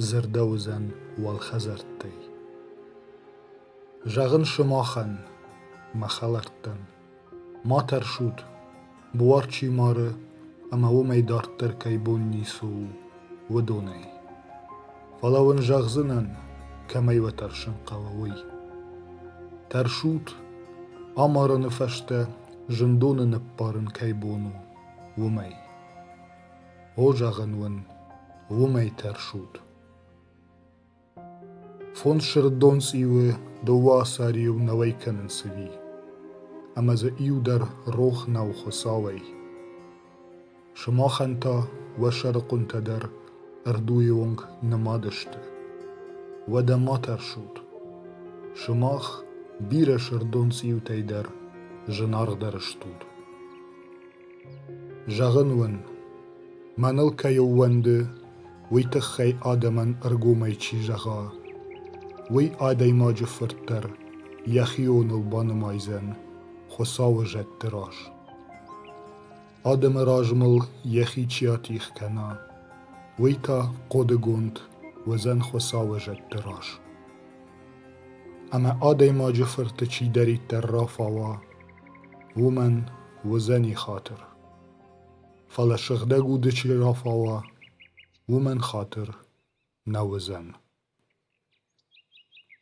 дзырдӕуыдзӕн уӕлхӕдзӕрттӕй. Зӕгъын сымахӕн, мӕ хӕлӕрттӕн, ма тӕрсут, буар чи мары ӕмӕ уымӕй дарддӕр кӕй бон ницы у, уыдонӕй. Фӕлӕ уын зӕгъдзынӕн, кӕмӕй уӕ тӕрсын хъӕуы, уый. Тӕрсут, амарыны фӕстӕ зындоны ныппарын кӕй бон у, уымӕй. О, зӕгъын уын, уымӕй тӕрсут. Фондз сырддон цъиуы дыууӕ асариу нӕуӕй кӕнынц ӕви? Ӕмӕ дзы иу дӕр рох нӕу Хуыцауӕй. Сымахӕн та уӕ сӕрыхъуынтӕ дӕр ӕрдуйы онг нымад сты. Уӕдӕ ма тӕрсут. Сымах бирӕ сырддон цъиутӕй дӕр зынаргъдӕр стут. Зӕгъын уын, мӕныл кӕй ӕууӕнды, уый тыххӕй адӕмӕн ӕргомӕй чи зӕгъа, уый адӕймаджы фырт дӕр йӕхионыл банымайдзӕн Хуыцауы зӕдты раз. Адӕмы размыл йӕхи чи атих кӕна, уый та хъодыгонд уыдзӕн Хуыцауы зӕдты раз. Ӕмӕ адӕймаджы фырты чидӕриддӕр рафауа, уымӕн уыдзӕни хатыр. Фӕлӕ сыгъдӕг уды чи рафауа, уымӕн хатыр нӕ уыдзӕн.